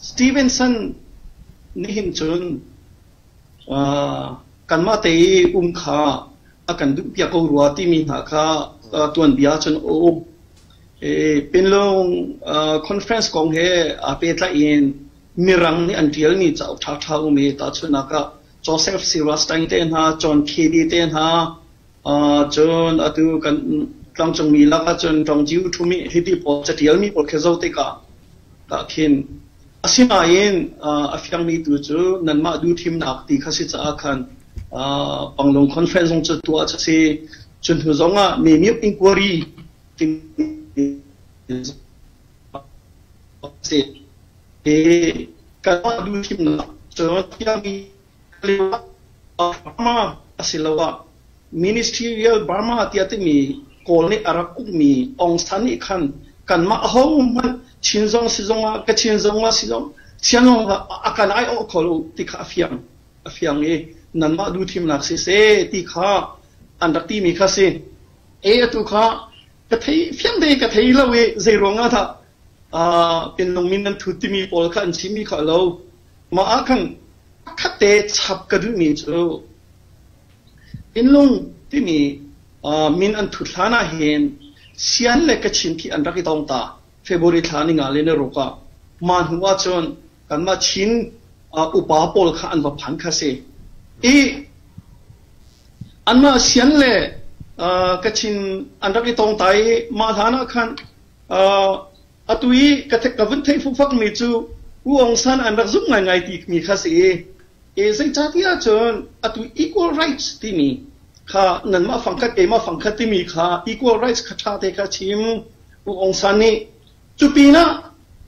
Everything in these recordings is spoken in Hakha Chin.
Stevenson nih hin cun kanmah te i um kha a kan duhpiak ko rua timi hna kha tuanbia cun a um. Pinlung conference kong he aa pehtlaih in Mirang nih an ṭialmi cauk ṭhaṭha um i tahchunhnak ah Joseph Cyrus Stein te hna, John Kennedy te hna, Cun atu kan tlangcungmi lakah cun ṭawngciu ṭhum i hiti pawl caṭialmi pawl khi zoh tikah tah khin asinain a fiangmi tu cu nanmah duhthimnak ti kha si caah khan Panglong Conference zong cu tuah a si. Cu hnu zongah Memik Inquiry timi a si. Kanmah duhthimnak cun fiangmi Burma asiloah Ministerial Burma tiah timi Kawl nih a rak ukmi Aung San nih khan kanmah ahohmanh Chin zong si zong ah Kachin zong ah si zong chia zong ah a kan aiawh kho lo ti kha a fiang a fiang i nanmah duhthimnak si seh ti kha an rak timi kha si. E atu kha ka thei fiang te ka thei lo i zeiruang ah dah pinlung mi nan thut timi pawl kha an chimmi kha lo Mah ah khan a khatte chap ka duhmi cu Innlung timi min an thut hlan ahhin sian le kachin khi an rak i tong ta. February thla ni nga le ni ruk ah. Mah hnu ahcun kanmah Chin upa pawl kha an va phan kha si. I anmah sian le kachin an rak i tong ta i mah hlan ah khan Atu i ka ka vun theih fukfakmi cu U Aung San an rak zumh ngaingai timi kha si i zeicahtiah cun atu equal rights timi kha nanmah fangkhat keimah fangkhat timi kha equal rights kha ṭha te kha chim U Aung San nih cu pinah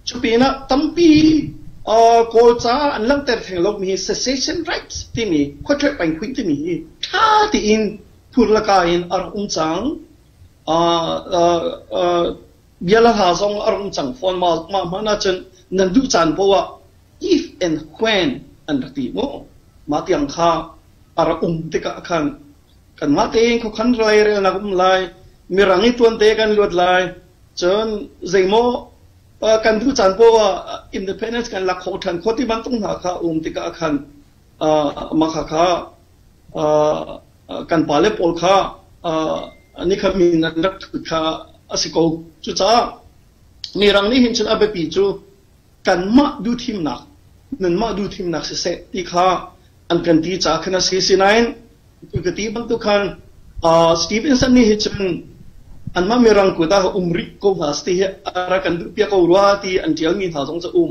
cu pinah tampi kawlca an langhter theng lomi secession rights timi khuaṭheh paingkhuih timi hi ṭha tein phur le ka in a rak um cang. Bia le hla zong a rung cang fawn mah hmanh ahcun nan duh caan poh ah if and when an rak ti mu. Mah tiang kha a rak um tikah khan kanmah tein khuakhan rairelnak um lai, mirang i tuante kan luat lai, cun zeimaw kan duh caan poah independence kan lak kho ṭhan kho ti bantuk hna kha um tikah khan Mah khakha kan pale pawl kha nikhat min an rak thut kha a si ko. Cucaah Mirang nih hin cun a biapi cu kanmah duhthimnak, nanmah duhthimnak siseh ti kha an kan ti caah khan a si. Sinain tu ka ti bantuk khan Stevenson nih hi cun anmah Mirang kut ah um rih ko hna ti hi a rak kan duhpiak ko rua ti an ṭialmi hna zong cu a um.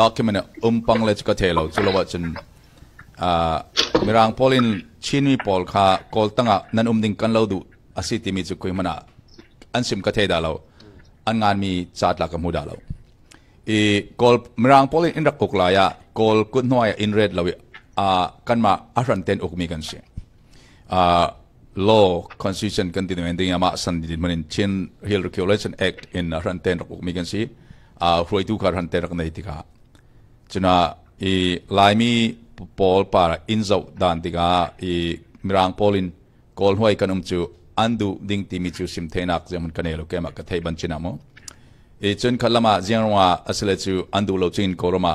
document umpang le ka thei lo culo ahcun uh, mirang pawl in chinmi pawl kha kawl tangah nan um ding kan lo duh asi timi cu kui hmana an sim ka thei da lo an nganmi chatla ka mu da lo i kawl mirang pawl in rak kuk lai ah kawl kut hnuai in red lo i a kanma ahran ten ukmi kan si law constitution kan ti men ding amah san di man in Chin Real Regulation Act in ran ten rak uk mi kan si a hruaitu kha ran ten rak nei tika cuna i laimi pawl para in zo dan tika i mirang pawl in kawl huai kan um cu an du ding ti mi cu sim theinak zemun kan elo kema ka thei ban chinamo i cun khat lama jiang rong a asile cu an du lo chin ko roma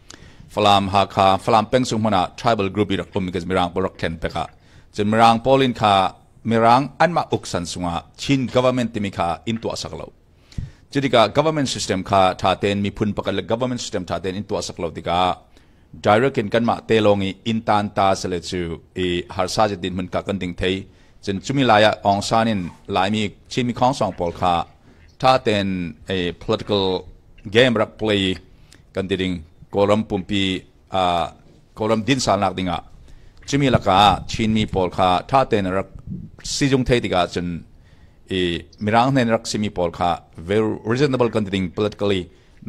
Falam Hakha Falam pengchung hmun ah tribal group i rak um mi Mirang pawl rak thlen pek ah cun Mirang pawl in kha Mirang anmah uksan sungah Chin government timi kha in tuah sak lo cutikah government system kha tha tein miphun pakhat le government system tha tein in tuah sak lo tikah direct in kanmah te lawng i in tan ta sale cu i harsa jetin mun ka kan ding thei cun cumi lai ah ong san in laimi chinmi khongsong pawl kha tha tein a political game rak play kan ti ding Kawlram pumpi ah Kawlram dinsal nak ding ah cumi lakah Chinmi pawl kha ṭha tein rak sizung thei tikah cun i mirang hnen rak simi pawl kha very reasonable kan ti ding politically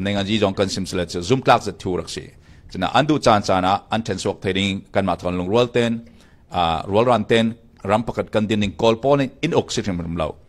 nengaji zong kan sim silet cu zumtlak zat thu rak si cina an duh caan caan ah an ṭhen suak thei ding kan ma thon lungrual ten rual ran ten ram pakhat kan din ning kawl pawl in in ok si hrim lo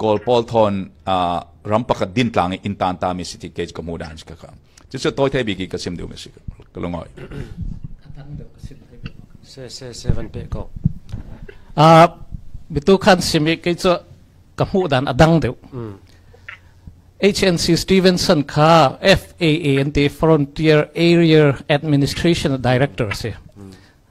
Kawl pawl thon ram pakhat din tlang in tan ta mi si ti ke ka mu dan si ka ka chu chu toy thai bi ki ka sim du mi si ka lungoi se se se van pe ko a bitu khan simi ke chu ka mu dan adang deu HNC Stevenson kha FAA and the Frontier Area Administration director si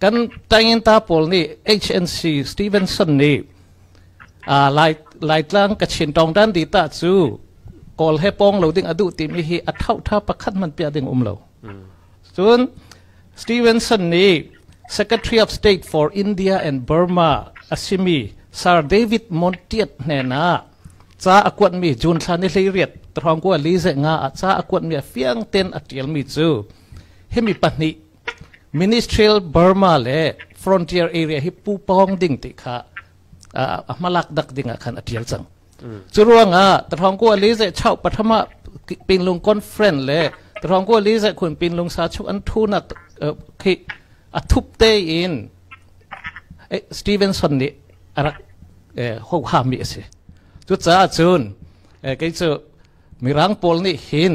Kan tangenta pawl nih HNC Stevenson nih lai Laitlang Kachin Tawngdan Dita cu kawl he pawng lo ding a duh timi hi a thauṭha pakhat hmanh piah ding um lo. Cun Stevenson nih Secretary of State for India and Burma a simi Sir David Montiat hnenah ca a kuatmi June thla ni hleiriat thawngkua li ze nga ah ca a kuatmi a fiang ten a ṭialmi cu himi pahnih Ministerial Burma le Frontier Area hi pu pawng ding ti kha a hmalak dak ding ah khan a tial cang. Cu ruang ah Tathawng Kua li zai chau pathama Pinlung Conference le Tathawng Kua li zai khun Pinlung sa chu an thu na khi a thup te in Stevenson nih arak ho ha mi asi. Cu caah cun kei cu Mirang pawl nih hin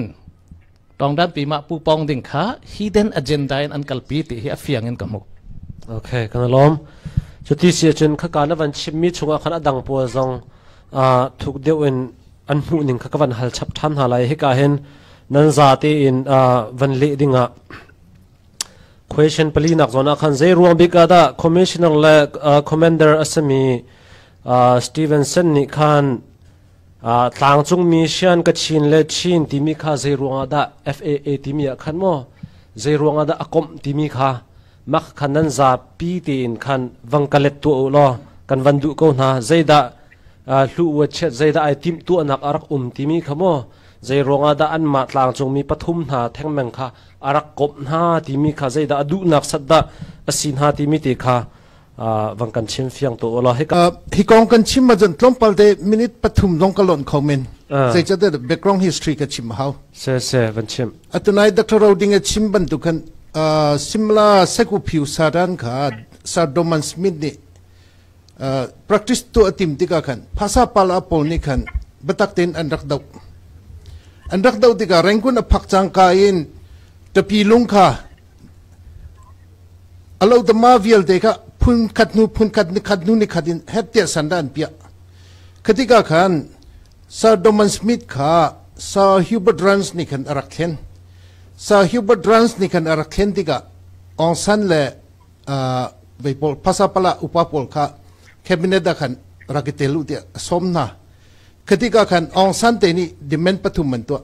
Tawngdanpi mah pu pawng ding kha hidden agenda in an kalpi ti hi a fiang in ka hmuh. Okay, kan lom. Cuti si cun khaka na van chimmi chungah khan adang pual zong thuk deuh in an hmuh ning kha ka van hal chap than hna lai hika hin nan za te in van le dingah question pali nak zona khan zei ruang bika da commissioner le commander asami Stevenson nih khan Tlangcungmi sian ka chin le chin timi kha zeiruangah dah FAA timi ah khan maw zeiruangah dah a komh timi kha mak khan nan zapi tein khan vang ka let tuah u law kan van duh ko hna zeidah hlu wa chiat zeidah ai timh tuahnak a rak um timi kha maw zeiruangah dah anmah tlangcungmi pathum hna thengmeng kha a rak komh hna timi kha zeidah a duhnak sat dah a si hna timi te kha vang kan chim fiang to la hi kong kan chim ma jan tlawmpal de minute pathum long ka lon kho min sai cha de background history ka chim hau se se van chim atunai dr roding a chim ban tu kan simla seku phiu saran kha sardoman smith ni practice to atim tika khan phasa pala pol ni khan batak tin an rak dau an rak dau tika rengkun a phak chang ka in tapi lung kha A lotama vialte kha phun khat hnu phun khat nikhat hnu nikhat in hetiah san dah an piah. Khatika khan Sir Doman Smith kha Sir Hubert Rance nih khan a rak thlen. Sir Hubert Rance nih khan a rak thlen tikah Aung San le uh, vei pawl phasa pala upa pawl kha cabinet ah khan rak i tel u tiah a sawm hna. Khatika khan Aung San te nih demand pathum an tuah.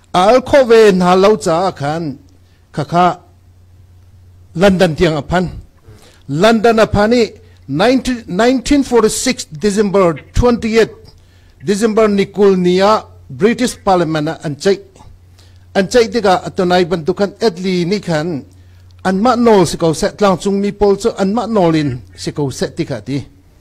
a al khawh ve hna lo caah khan khakha London tiang a phan London a phan i 1946 December 28 December ni kul ni ah British Parliament ah an ceih an ceih tikah atunai bantuk khan Italy nih khan anmah nawl si ko seh tlangcung mi pawl cu anmah nawl in si ko seh ti kha ti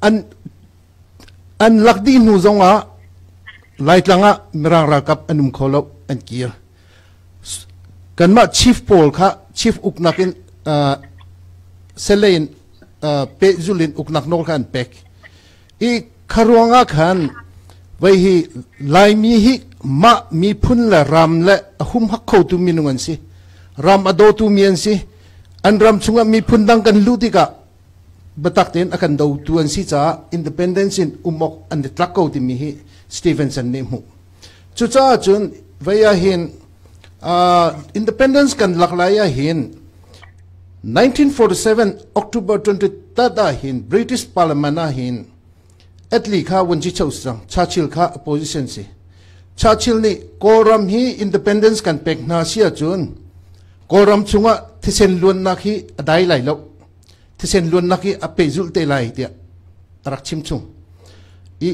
An lak dih hnu zongah Laitlang ah Mirang ralkap an um kho lo an kir. Kanmah chief pawl kha chief uknak in uh, sele in uh, pehzul in uknak nawl kha an pek. I kharuang ah khan vai hi Laimi hi mah miphun le ram le a hum hak kho tu minung an si. Ram a do tu mi an si. An ram chungah miphun dang kan luh tikah biatak tein a kan dotu an si caah independence in um awk an i tlak ko timi hi Stevenson nih hmuh. Cucaah cun vei ahhin uh, independence kan lak lai ahhin 1947 October 23 ahhin British Parliament ahhin atli kha wunji chosrang Churchill kha opposition si Churchill nih Kawlram hi independence kan pek hna si ahcun Kawlram chungah thisen luannak hi a dai lai loh thisen luannak hi a pehzulh te lai tiah a rak chim chung i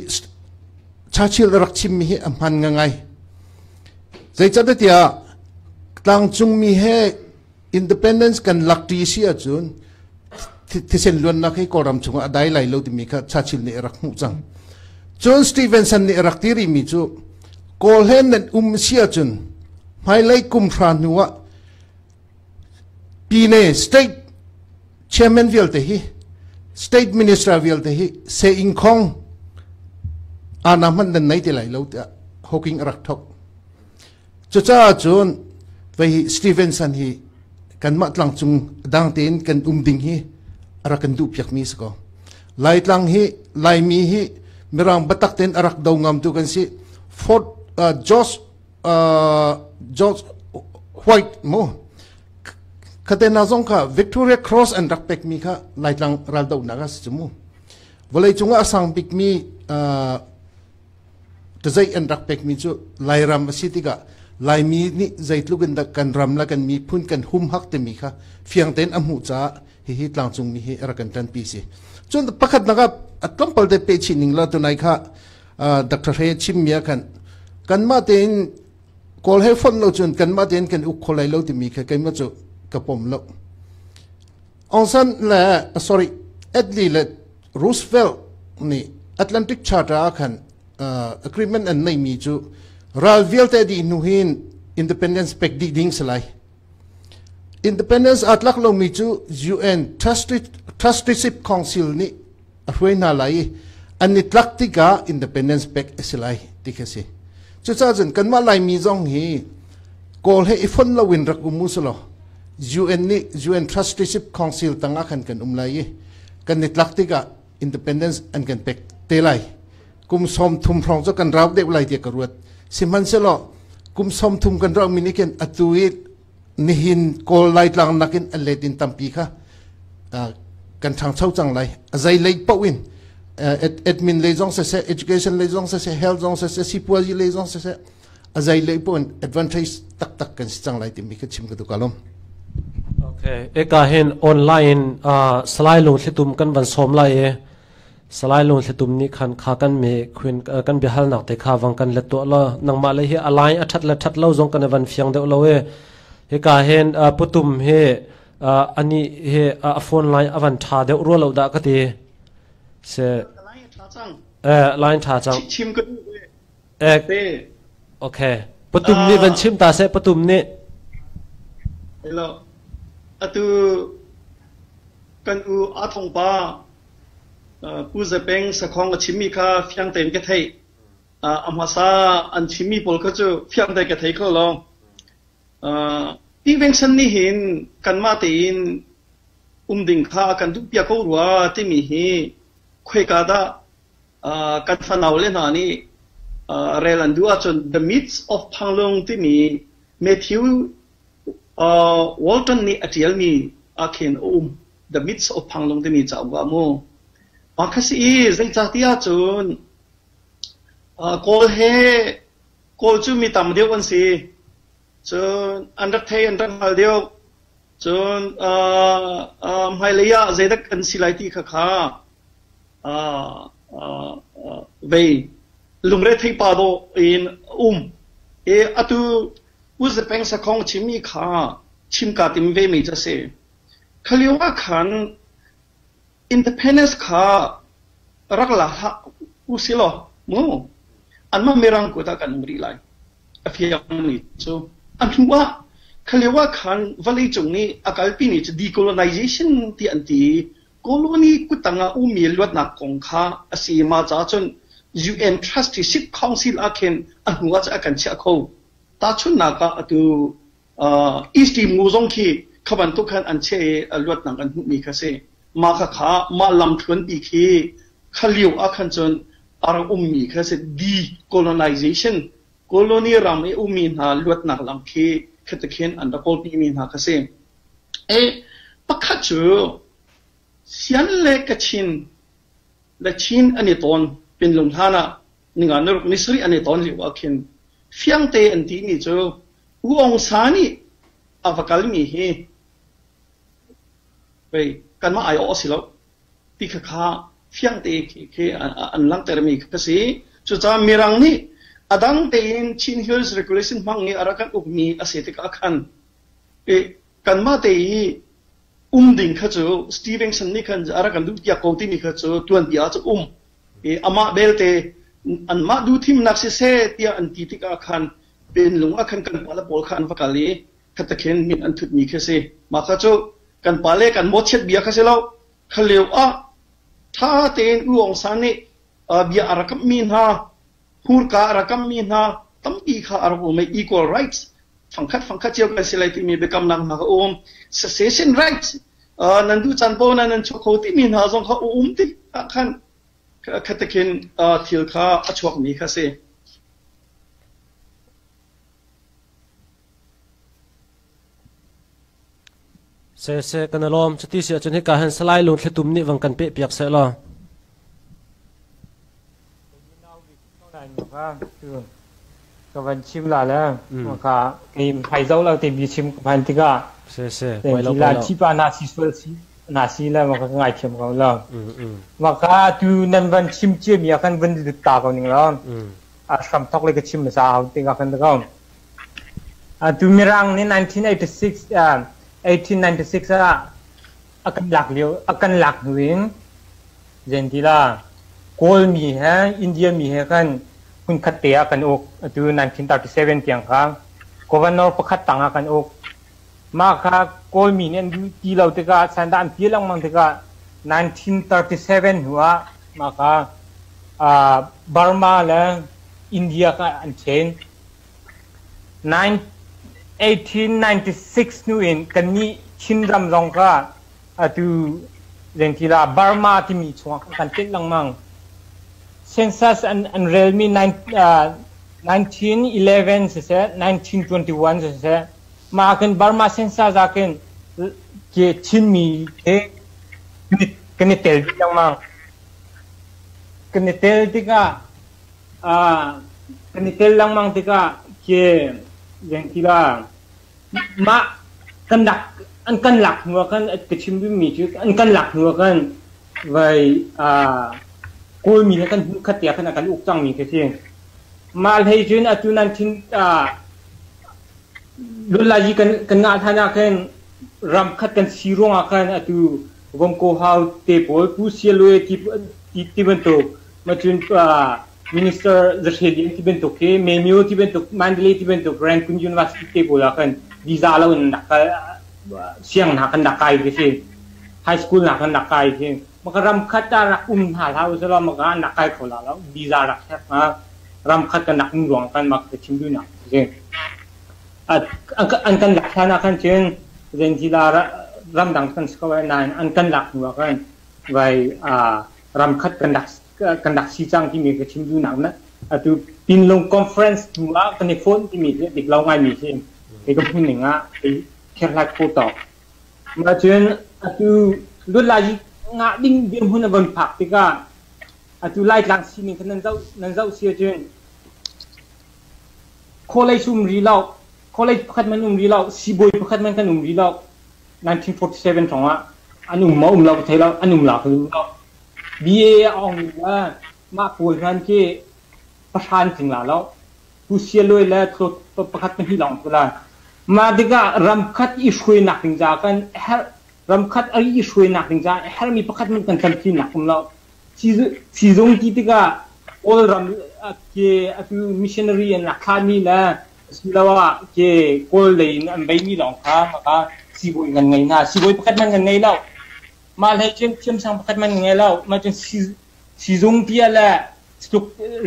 Churchill a rak chimmi hi a hman ngai zeicatiah tlangcungmi he independence kan lak ṭi si ahcun thisen luannak hi kawlram chungah a dai lai lo timi kha Churchill nih a rak hmuh cang cun Stevenson nih a rak ti rimi cu kawlhen nan um si ahcun hmailei kum hra hnu ah Pyine state chairman vialte hi state minister vialte hi se ing khong ana hman nan nei te lai lo tiah hawking a rak thok cucaah cun vei hi Stevenson hi kanmah tlang cung dang tein kan um ding hi ara kan duh piak mi si ko laitlang hi laimi hi mirang batak ten arak do ngam tu kan si fort uh, george George White mu khatena zong kha Victoria Cross an rak pek mi kha laitlang ral do nak as mu vawlei cunga asang bik mi tazai an rak pek mi chu lairam asi tika laimi ni zeitluk in kan ram la kan mi phun kan hum hak te mi kha fiang ten amu cha hi hi tlangcung mi hi ra kan tan pi si chun pakhat naga atlom palte pe chi ning la tunai kha Dr. Hre chimmi ah khan kanmah tein kawl he fon lo cun kanmah tein kan uk kho lai lo timi kha keimah cu ka pom lo. Aung San le sorry Adley le Roosevelt nih Atlantic Charter ah khan uh, agreement an neimi cu ral vialte dih hnu hin independence pek dih ding si lai independence atlak lomi cu UN Trustship Council nih a hruai hna lai i an i tlak tikah independence pek a si lai ti khi a si cucaah cun kanmah laimi zong hi kawl he i fon loin rak um u selaw UN nih UN Trusteeship Council tangah khan kan um lai i kan i tlak tikah independence an kan pek te lai kum som thum hrawng cu kan rau deuh lai tiah ka ruat sihmanhselaw kum som thum kan rauh mi nih khin atu i nihin kawl laitlang nakin an let in tampi kha kan ṭhangcho cang lai azai lei poh in admin lei zong saseh education lei zong saseh health zong saseh sipuazi lei zong saseh azai lei poh in advantage taktak kan si cang lai timi ka chim ka duka lom okay eka hin online uh, salai lung thlitum kan van som lai e Salai Lungthlitum nih khan kha kan mee kan biahalnak te kha vang kan let tuah law nangmah le hi a lai a ṭhat le ṭhat lo zong kan i van fiang deuh lo e hika hen putum hi ani hi a phone line a van ṭha deuh rua lo dah ka ti se lai ṭha cang chim ka duh Ek. Ok. Patum nih van chim ta seh, patum nih. Hello. Atu kan u a thong pa pu zapeng sakhong a chimi kha fiang tein ka thei amasa an chimi pol kha chu fiang te ka thei kho lo ti veng san ni hin kan ma te in um ding kha kan du pia ko rua timi hi khoi ka da kan fanaule hna nih rel an duh ahcun The Myths of Panglong timi Matthew Walton nih a ṭialmi ahkhin a um. The Myths of Panglong timi cauk ah mu. Mah kha si i zeicahtiah cun Kawl he Kawl cu mi tam deuh an si. Cun an rak thei an rak hngal deuh. Cun hmailei ah zeidak kan si lai ti kha kha vei lungretheih pa dawh in a um i atu Uzepeng sakhong chimmi kha chimka tim vemi cu a si. Kha lioah khan Independence kha rak la hlah usilaw mu anmah mirang kuat ah kan um rih lai a fiangmi cu a hnu ah khalio ah khan vawleicung nih a kalpi ni cu decolonization tiah an ti i colony kutang ah ummi luatnak kong kha a si ma caah cun UN Trust hi Sikh Council ah khin a hnu ah cun a kan chiah kho tahchunhnak ah atu East Timgu zong khi kha bantuk khan an cheh i a luatnak an hmuhmi kha a si. Mah khakha mah lamthluanpi khi kha lio ah khan cun a rak ummi kha a si. Decolonization, colony ram i ummi hna luatnak lam khi khatekhin an rak kawlpimi hna kha si. E, pakhat cu Sian le Kachin le Chin an i tawn pinlung hlan ah ninga naruk ni sarih an i tawn lio ah khin fiangte an timi cu U Aung Sa nih a va kalmi hi pei kanmah aiawh a si lo ti kha kha fiang tein khi an langhtermi ka si. Cucaah Mirang nih a dang tein Chin Hills Regulation hmang i a rak kan ukmi a si tikah khan kanmah te i um ding kha cu Stevenson nih khan a rak kan duhpiak ko timi kha cu tuanpi ah cu um i amah belte anmah duhthimnak siseh tiah an ti tikah khan Penlung ah khan kan pale pawl kha an va kal i khatakhin min an thutmi khi a si. Mah kha cu kan pale kan mawchiat bia kha si lo, kha lio ah ṭha tein U Aung San nih uh, bia a rak kamhmi hna, hmurka a rak kamhmi hna, tampi kha a rak um i equal rights fangkhat fangkhat cio kan si lai timi biakamnak hna kha um. Secession rights uh, nan duh caan paoh na nan chuah kho timi hna zong kha um ti ah khan A khatek in thil kha a chuakmi kha a si. Seseh, kan i lawm. Cuti si ahcun hika hin Salai Lung Thlitum nih vang kan pehpiak seh law. ka van chim la le ka ni hai zo lo te mi chim ka phan tikah lan chi pa na si sual si na si le ma ka ngai thiam ko lo ma ka tu nan van chim chia mi kan van du ta ko ning lo a sham thok le ka chim sa hau te ka kan ko a tu mirang ni 1986 1896 ah A kan lak hnu in zen ti la Kawlmi he Indianmi he khan hmunkhat te ah kan uk atu 1937 tiang kha governor pakhat tangah kan uk mah kha Kawlmi nih an duh ti lo tikah sandah an pil lengmang tikah 1937 hnu ah mah kha Burma le India kha an ṭhen 1896 hnu in kannih Chinram zong kha atu zengtila Burma timi chungah kan tlenh lengmang. Census an, an relmi nineteen siseh, nineteen twenty-one siseh, mah ahkhin Burma census ahkhin ke Chinmi he kan i tel dih lengmang. Kan i tel tikah kan i tel lengmang tikah khi veng tila mah kan lak an kan lak hnu ah khan ka chim duhmi cu an kan lak hnu ah khan vai Kawlmi he kan khat tiah khan a kan uk cangmi khi si. Mah hlei cun atu nan thin Lolaji kan kan ngah hlan ah khan ram khat kan si ruang ah khan atu Vongko hau te pawl Pu Sialwe ti ti bantuk Minister zahre ding ti bantuk hi Memyu ti bantuk Mandalay ti bantuk Rangoon University te pawl ah khan visa lo in rak kal siang hna kan rak kai ti si high school hna kan rak kai si maka ram khat ah rak um hna hlah usih law maka an rak kai kho la lo visa rak herh hnga ram khat kan rak um ruang kan mak ka chim duh nak si an kan lak hlan ah khan cun zan ti la ram dang kan si ko ai nain an kan lak hnu ah khan vai ramkhat kan rak kan rak si cang timi ka chim duhnak na atu Pinlung Conference hnu ah kan i phone timi hi dik lo ngaimi si kei ka hmun ning ah kei kherhlat ko to ma cun atu lut lai ngah ding dir hmun a von phak tikah atu lai tlang si ning khan nan zoh nan zoh sia cun kholei sum ri lo kholei pakhat man um ri lo sibawi pakhat man kan um ri lo 1947 hrawng ah an um maw um lo ka thei lo an um lak lim lo BA a awngmi le mah pawl hman khi pahran tling la lo tu sialoi le tlawt pakhat pahnih lawng tu la mah tikah ramkhat i hruainak ding ca kan herh ramkhat i hruainak ding ca herh mi pakhat man kan tam chin nak kum lo sizung ti tikah Kawl ram ke atu missionary an lakha mi le Asiloah ke kawl lei in an beimi lawng kha maka siibawi kan ngei hna. Siibawi pakhat man kan ngei lo. Mah hlei cun thiamsang pakhat man kan ngei lo. Mah cun siizung tiah le tluk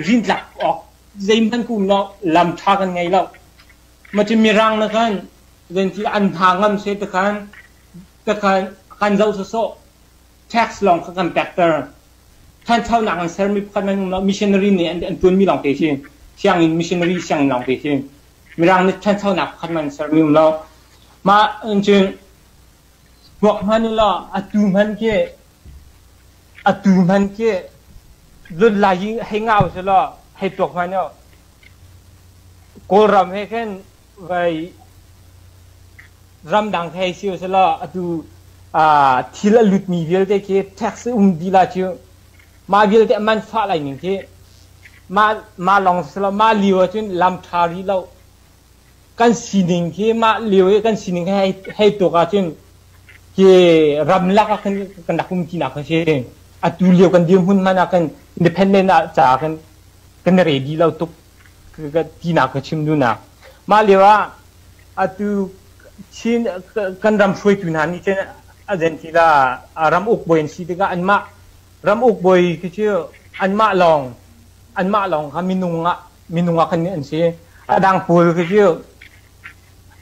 rintlak awk zeihmanh kum lo lam ṭha kan ngei lo. Mah cun mirang nih khan zeitintiah an hna ngam seh ti khan kan zoh sawsawh. tax lawng kha kan pekter. Ṭhanchonak an sermi pakhat nan um lo. Missionary nih an ṭuanmi lawng te khi, sianginn missionary sianginn lawng te khi, Mirang nih ṭhanchonak pakhat man sermi um lo. Mah cun hmuak hman u law atu hman khi atu hman khi zun lai hi hei ngau sih law hei tuak hman u. Kawlram he khin ramdang thei si usilaw atu thil a lutmi vialte khi tax um dila cu mah vialte a man fah lai ning khi mah mah lawng silaw mah lio ahcun lam ṭha rih lo kan sining khi mah lio i kan sining khi hei hei tuk ahcun hi ramlak ah kan kan rak um tinak kan si atu lio kan dirhmun hmanh ah kan independent ah ca kan kan ready lo tuk ka tinak ka chim dunak mah lio ah atu Chin kan ram hruaitu hna nih cun a zen ti la ram uk bawi an si tikah anmah ram uk bawi khi cu anmah lawng anmah lawng kha minung ah minung ah kan an si a dang pawl khi cu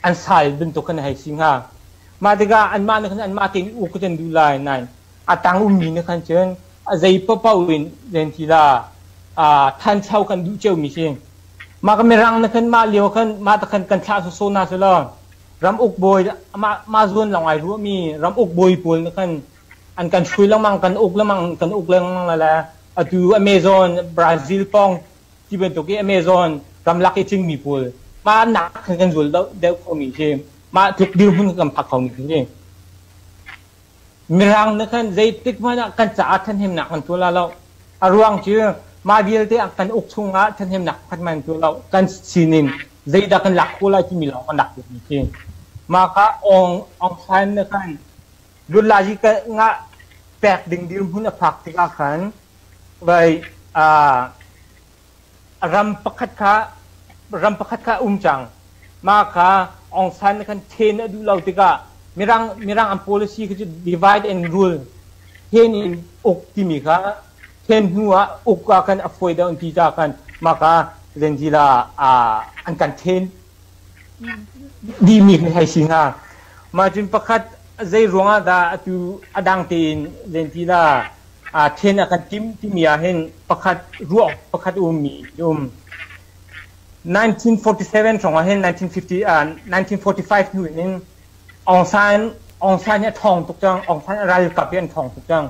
an sai bantuk khan a hei si hnga. Mah tikah anmah nih khan anmah tein uk kan duh lai, nain a tang ummi nih khan cun a zei paohpaoh in len ti la aa ṭhancho kan duh ciomi si. Mah ka mirang nih khan mah lio khan mah ta khan kan thlah sawsaw hna selaw ram uk bawi mah, mah zuan lawng ai ruahmi ram uk bawi pawl nih khan an kan hruai lengmang, kan uk lengmang, kan uk lengmang le le atu Amazon, Brazil pawng Ti bantuk i Amazon ramlak i thingmi pawl hmanak kha kan zul deuh khomi khi mah tluk dirhmun kan phak khomi khi si. Mirang nih khan zeitik hmanh ah kan caah ṭhahnemnak an tuah la lo. A ruang cu mah vialte ah kan uk chungah ṭhahnemnak khat man tuah lo. Kan sinin zeidah kan lak khawh lai timi lawng kan lak khawhmi khi. Mah kha Aung Aung San nih khan Bunlaji ngah pek ding dirhmun a phak tikah khan Ram pakhat kha a um cang. Mah kha Aung San nih khan then a duh lo tikah Mirang an policy kha cu divide and rule, then in uk timi kha then hnu ah uk ah khan a fawi deuh an ti caah khan mah kha Zenzila an kan then dihmi hei si hnga. Mah cun pakhat zeiruang ah dah atu a dang tein Zenzila aa then a kan tim timi ahhin pakhat ruah pakhat ummi um. 1947 hrawng ahhin 1950, uh, 1945 hnu in Aung San Aung San hi a thawng tuk cang Aung San ralkap hi an thawng tuk cang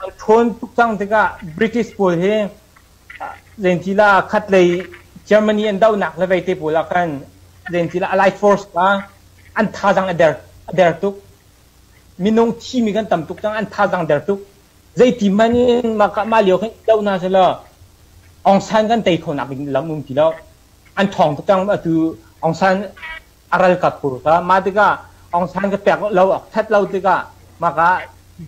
a ṭhawn tuk cang tikah British pawl hi zeintila khat lei Germany an dohnak le veite pawl ah khan zeintila allied force pa an thazang a der a der tuk Minung thimi kan tam tuk cang, an thazaang der tuk. Zeiti hmanh in mah, mah lio khin do hna selaw Aung San kan tei kho nak ding lam um ti lo. An ṭhawng tuk cang atu Aung San a ral ka khur kha. Mah tikah Aung San ka pek lo a ṭhat lo tikah mah kha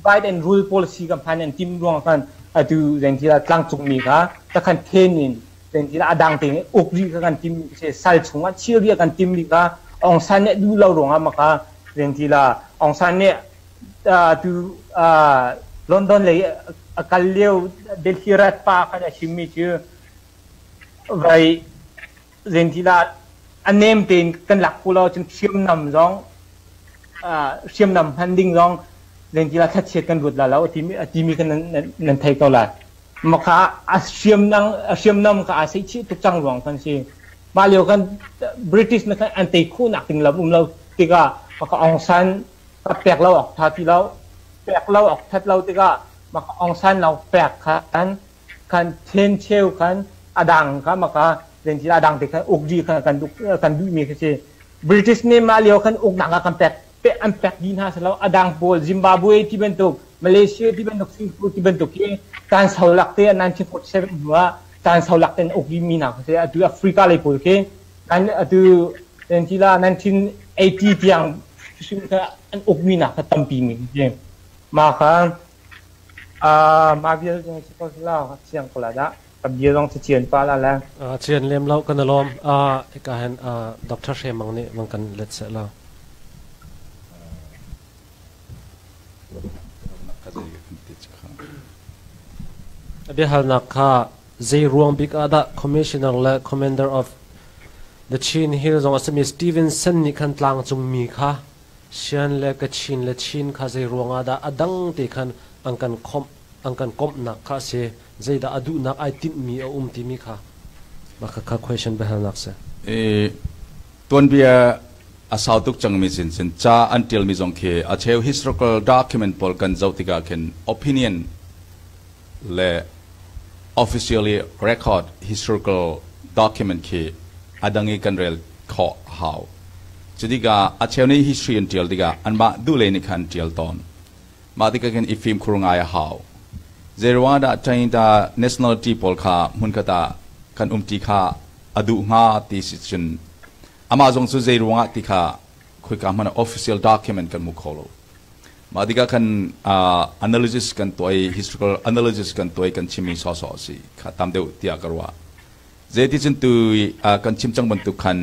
Biden rule policy ka hman an timh ruang khan atu zengti tlangcung mi kha takhan then in Pengtin ah a dang tein uk rih ka kan tim se sal chung ah chir rih kan tim rih ka Aung San nih duh lo ruang ah maka pengti la Aung San nih tu London lei a kal lio Delhi rat pa kan a chim mi cu vai zenti la a nem tein kan lak pu lo cun hriamnam zong hriamnam hman ding zong zenti la thatchiat kan ruat la lo a ti mi kan nan thei ko lai Maka a hriamnam a hriamnam ka aa seihchih tuk cang ruang kan si. Mah lio kan British na kan an tei khuh nak ding lam um lo tikah maka Aung San ka pek lo awk tha ti lo pek lo awk that lo tikah maka Aung San lo pek khan kan then cheu khan a dang ka maka len ti a dang te khan uk di khan kan duh kan duh mi khi si British nih mah lio khan uk nak ah kan pek pek an pek dih hna selaw a dang pawl Zimbabwe ti bantuk Malaysia ti bantuk Singapore ti bantuk hi caan sau lak te 1947 hnu ah caan sau lak ten uk mi hna siseh atu Africa lei pawl khi atu la 1980 tiang an uk mi hna kha tampi mi si mah kha mah vial siang ko la dah A bia zong cacian pah la la. Uh, cian lem lo kan alawm. Uh, ika hen uh, Dr. Hre Mang nih mang kan let set lo. Abia hal nak kha zei ruang bik ada commissioner le commander of the Chin Hill zong asami Stevenson nih khan tlang cung mi kha sian le ka chin le chin kha zei ruang ada adang te khan an kan khom an kan komhnak kha a si. Zeidah a duhnak ai tinhmi a um timi kha mah kha kha question biahalnak si. I tuanbia a sau tuk cangmi sinchin ca an ṭialmi zong khi a cheu historical document pawl kan zoh tikah khin opinion le officially record historical document khi a dang i kan rel khawh hau. Cutikah a cheu nih history an ṭial tikah anmah duh lei nih khan an ṭial tawn. Mah tikah khin i fimkhur ngai a hau. Zeiruangahdah Trinidad nationality pawl kha hmunkhat ah kan um ti kha a duh hnga ti si cun amah zong cu zeiruangah ti kha khoika hmanh ah official document kan hmu kho lo. Mah tikah khan uh, analysis kan tuah i historical analysis kan tuah i kan chimmi sawhsawh a si kha tam deuh tiah ka ruah. Zeiticun tu kan chim cang bantuk khan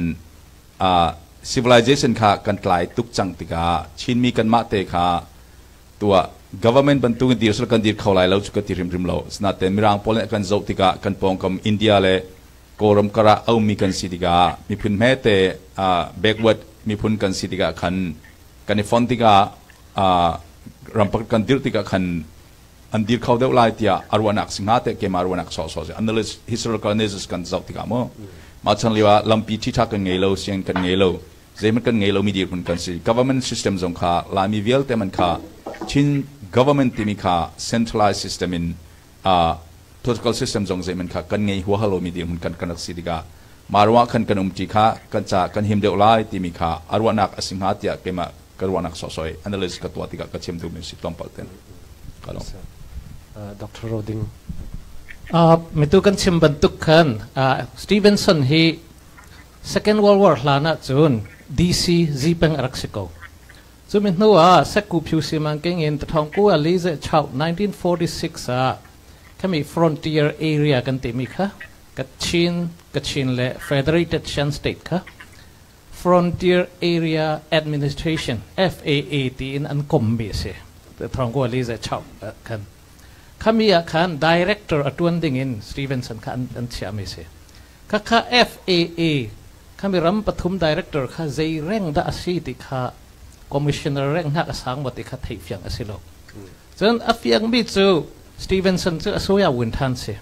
civilization kha kan tlai tuk cang tikah Chinmi kanmah te kha tuah government bantuk in dir sal kan dir kho lai lo cu ka ti hrimhrim lo sinaten mirang pawl nih kan zoh tikah kan pawngkam India le Kawlram kar ah aumi kan si tikah miphun hmete backward miphun kan si tikah khan kan i fon tikah ram pakhat kan dirh tikah khan an dir kho deuh lai tiah a ruahnak si hnga teh keimah ruahnak sawhsawh si unless historicalness kan zoh tikah maw mah chan lio ah lampi ṭhiṭha kan ngei lo sian kan ngei lo zeihmanh kan ngei lomi dirhmun kan si government system zong kha laimi vialte man kha chin government timi kha centralized system in uh, political system zong zeihman kha kan ngei huahal lomi dirhmun kan kan rak si tikah mah ruang khan kan um ti kha kan ca kan him deuh lai timi kha a ruahnak a si hnga tiah keimah ka ruahnak sawhsawh i analysis ka tuah tikah ka chim duhmi a si tlawmpal ten ka lawm. Dr. Roding. Uh, mitu kan chim bantuk khan uh, Stevenson hi Second World War hlan ah cun DC Zipeng a rak si ko. Cu mi hnu ah Seku Phyusi Mangking in Tathawngku Ali ze chau 1946 ah kami Frontier Area kan timi kha Kachin, Kachin le Federated Shan State kha Frontier Area Administration FAA tiin an kommi a si. Thawngkuali zei chap khan. Khami ah khan director a tuan ding in Stevenson kha an, an chiahmi a si. Khakha FAA khami ram pathum director kha zei reng dah a si ti kha commissioner reng hnak a sang maw ti kha theih fiang a si lo. Cun a fiangmi cu Stevenson cu a suya win ṭhan si.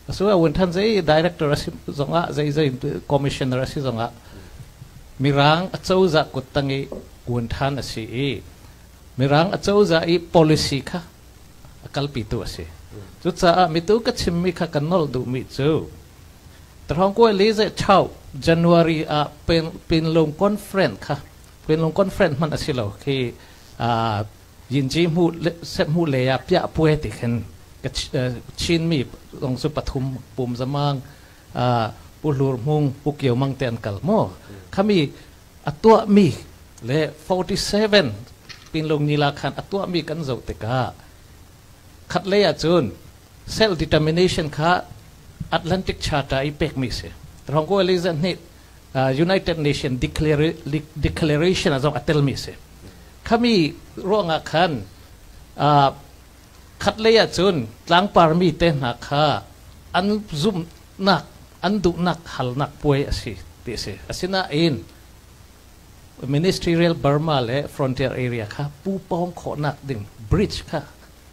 A suya win ṭhan zei director a si zongah zei zei commissioner a si zongah Mirang a cozah kut tang i win ṭhan a si i Mirang a cozah i policy kha a kalpitu a si. Cucaah mitu ka chimmi kha kan nolh duhmi cu Tarhongkue Lizechao January ah Pinlung Conference kha Pinlung Conference hmanh a si lo khi Yinci hmuh le ah piah puai ti khin Chinmi zong cu pathum pum zamang Pu Hlur Hmung Pu Kio Mang te an kal maw khami a tuahmi le 47 Pinlung Nila khan a tuahmi kan zoh tikah khat lei ahcun self determination kha Atlantic Charter i pekmi si Rhongko Elizabeth nih United Nations Declaration ah zong a telmi a si. Khami ruangah khan khatlei ahcun tlangparmi te hna kha an zumhnak an duhnak halnak puai a si ti a si. Asinain Ministerial Burma le Frontier Area kha pu pawng khawhnak ding bridge kha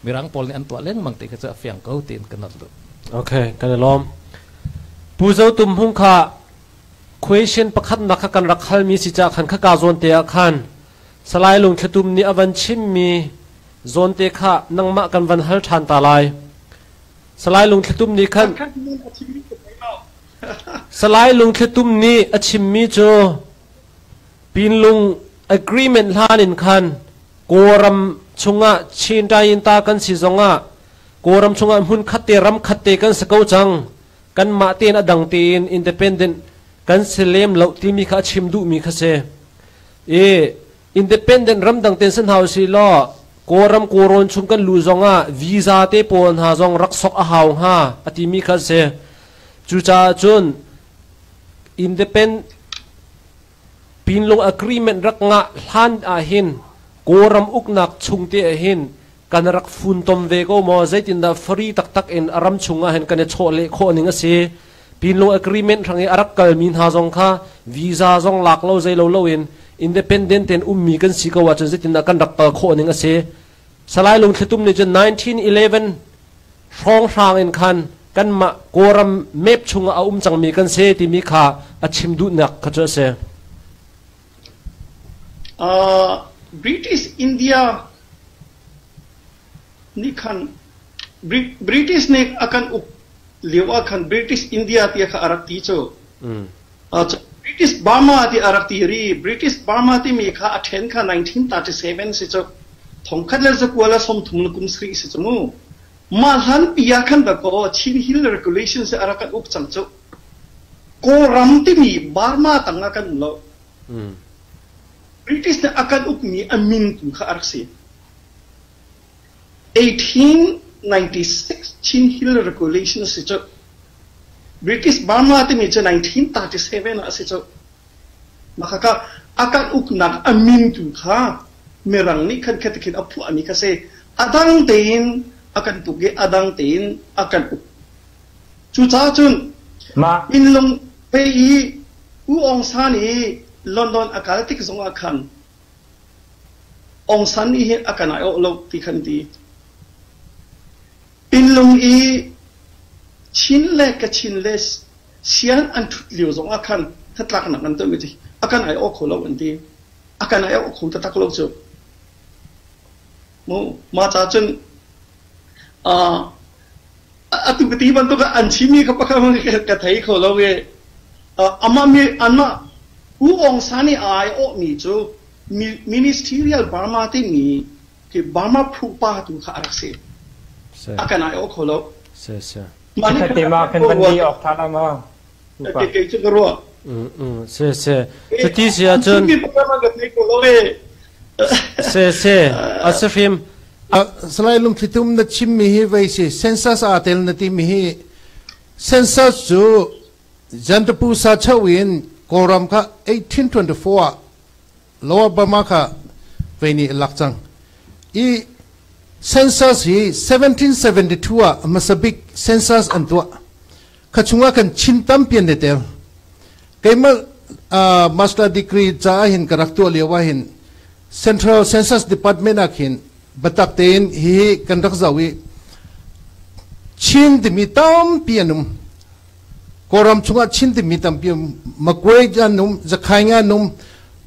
Mirang pawl nih an tuah lengmang ti kha cu a fiang ko tiin ka nolh duh. Okay, kan i lawm. Pu Zo Tum Hung kha question pakhatnak kha kan rak halmi si cah khan khaka zawnte ah khan Salai Lungthlitum nih a van chimmi zawnte kha nangmah kan van hal ṭhan ta lai. Salai Lungthlitum nih khan Salai Lungthlitum nih a chimmi cu Pinlung agreement hlan in khan Kawlram chungah Chin Tainta kan si zongah Kawlram chungah hmun khat te ram khat te kan si ko cang kan mah tein a dang tein independent kan si lem lo timi kha a chim duhmi kha si i independent ram dang ten si hna si law Kawlram Kawrawn chung kan lu zongah visa te pawl hna zong rak sok a hau hnga a timi kha si cucaah cun independent Pinlung agreement rak ngah hlan ahhin Kawlram uknak chungte ahhin kan rak funtom ve ko maw? Zeitindah fari taktak in a ram chungah hin kan i chawh leh khawh ning a si? Pinlung agreement hrang i a rak kalmi hna zong kha visa zong lak lo zei lo loin independent tein ummi kan si ko ahcun zeitindah kan rak kal khawh ning a si? Salai Lungthlitum nih cun 1911 hrawnghrang in khan kanmah Kawlram map chungah a um cangmi kan si timi kha a chim duhnak kha cu a si. Uh, British India nih khan British nih a kan uk lio ah khan British India tiah kha a rak ti cu. Mm. British Burma tiah a rak ti rih. British Burma timi kha a then kha 1937 si cu. Thongkhat le zakual a sawmthum le kum sarih si cu mu. Mah hlanpi ah khan dah kaw Chin Hill Regulations hi a rak kan uk cang cu. Kawlram timi Burma tang ah kan um lo. British nih a kan ukmi a min tu kha a rak si. 1896 Chin Hill Regulation a si cuh. British Burma timi cu 1937 ah a si cuh. Makhakah a kan uknak a mintu kha Mirang nih khan khetikhin a phuahmi kha si. A dang tein a kan tuk i a dang tein a kan uk. Cucaah cun Mah minlung hei i U Aung San i London a kal tik zongah khan Aung San nih hin a kan aiawh lo ti khan ti. Pinlung i Chin le Kachin le Sian an ṭhut lio zong ah khan hnatlaknak an tuahmi cu a kan aiawh kho lo an ti. A kan aiawh kho taktak lo cu. Mah cacun atu ti bantuk ah an chimmi kha pakhat hmanh ka thei kho lo i anmah U Aung San nih a aiawhmi cu Ministerial Burma timi Burma phupa tu kha a rak si. A kan aiawh kho lo. Mah kan van di awk ṭha lo maw? Upa. Kei cu ka ruah. Se se. Cuti si ahcun. Se se. A se fim. Salai lungthlitum na chimmi hi voi si census aa tel na timi hi census cu jantapu sa cheu in kawlram kha 1824 ah lower burma kha voi nih lak cang i census hi 1772 ah hmasa bik census an tuah kha chungah kan chin tam pian le ter keimah uh, master degree ca ah hin ka rak tuah lio ah hin central census department ah khin batak tein hi hi kan rak zau i chin timi tampi anum koram chungah chin timi tampi makwe num zakhai nga num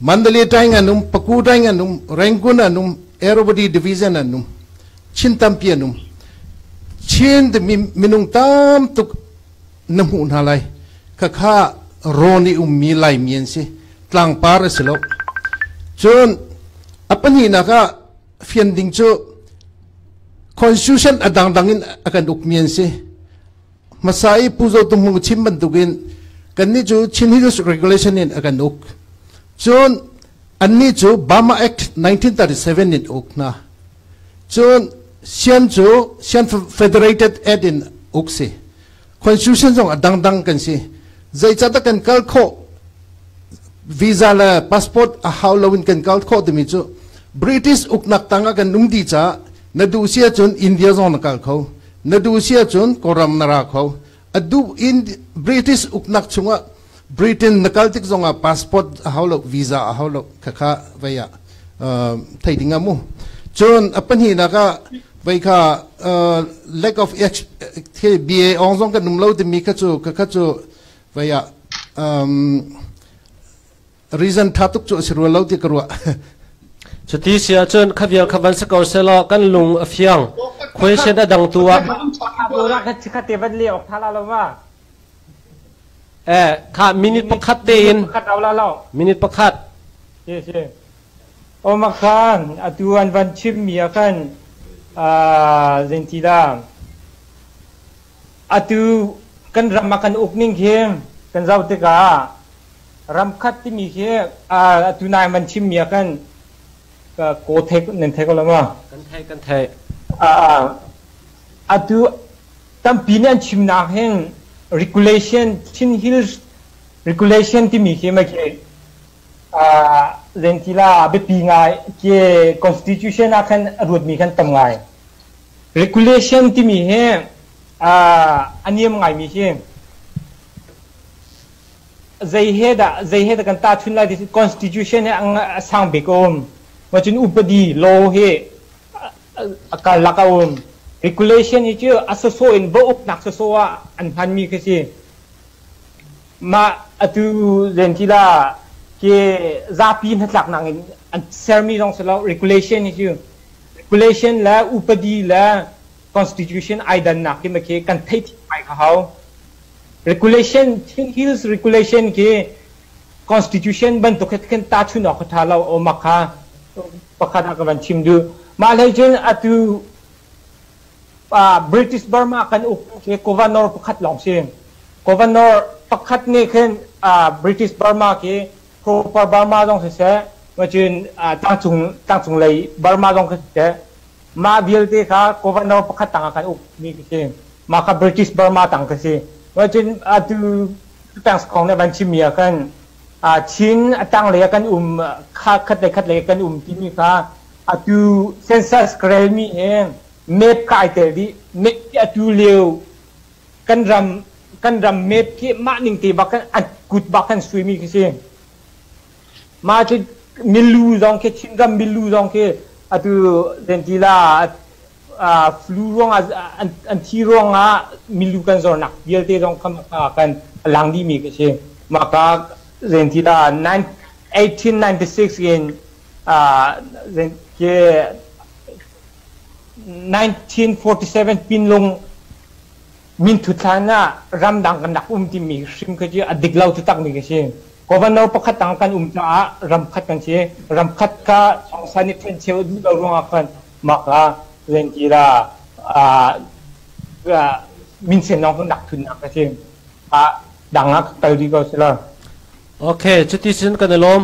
mandale tai nga num paku tai nga num rangun anum Arrowbody division anum Chin tampi an um. Chin minung tam tuk na hmuh hna lai. Khakha rawn i ummi Laimi an si. Tlangpar a si lo. Cun a pahnihnak ah fian ding cu constitution a dangdang in a kan ukmi an si. hmasa i Pu Zo Tung Hmung chim bantukin kannih cu Chin History Regulation in a kan uk cun annih cu Burma Act 1937 in uk hna cun sian cu sian federated act in uk si constitution zong a dangdang kan si zeicahdah kan kal khawh visa le passport a hau lo in kan kal khawh timi cu british uknak tangah kan um di caah na duh si ahcun india zong na kal kho Na duh si ahcun kawram na ra kho. A duh in British uknak chungah Britain na kal tik zongah passport a hau lo, visa a hau lo, khakha vei ah uh, thei ding ah mu. Cun a pahnihnak ah vei kha uh, lack of h khi BA ong zong kan um lo timi kha cu khakha cu vei ah um, reason tha tuk cu asi rua lo ti ka ruah cuti si ahcun khavial khavan si ko selaw kan lung a fiang question a dang tu ah Burak kan cikhat te van le ok tha la lo ma eh kha minute pakhat te in kat au la lo minute pakhat si si oma khan atuan van chim mi khan ah zentida Atu kan ram ah kan uk ning khi kan zoh tikah ramkhat timi khi atu nai man chimmi ah kan kaw thei nan thei ko lo maw? Kan thei kan thei. Atu tampi nih an chimnak hin regulation Chin Hills regulation timi khi mai khi zentila biapi ngai ke constitution ah khan ruatmi khan tam ngai. Regulation timi hi aa a niam ngaimi hi zei he dah zei he dah kan tahchun lai ti constitution hi a sang bik a um mah cun upadi law hi a karlak a um regulation hi cu a soso in va uknak soso ah an hmanmi khi si mah atu len ti la ke zapi hnatlaknak in an sermi zong si lo regulation hi cu Population le upadi le constitution ai dannak hi khi kan theih thiam ngai ka hau. Regulation Hills regulation khi constitution bantuk khi khin tahchun awk tha lo awm kha pakhat ah ka van chim duh. Mah hlei cun atu uh, British Burma kan up khi governor pakhat lawng si. Governor pakhat nih khin uh, British Burma khi Phupa Burma zong siseh, tlangcung lei Burma zong kha siseh, mah vialte kha governor pakhat tang ah kan ukmi khi si. Mah kha British Burma tang khi si. Atu tangs kong nih van chimmi ah khan Chin a tanglei ah kan um, khat le khat lei kan um timi kha atu census ka relmi he map kai tel dih. Atu lio kan ram kan ram map khi mah ning te bak a kut bak kan sui mi khi si mah cu milu zong khi Chin ram milu zong khi atu denti la flu ruang an thi ruang ah milu kan zor nak vialte zong kam kan lang di mi ka si maka denti la 1896 in uh, ke 1947 pinlung minthut hlan ah ramdang kan rak um timi hrim kha cu a dik lo takmi ka si. Governor pakhat dang kan um caah ramkhat kan si. Ramkhat kha chongsan i ṭhencheu duh lo ruangah khan mak a lenki la minsen lawng kan rak thunnak ka si. dang ah kal dih ko sila. Okay, cuti sin kan i lawm.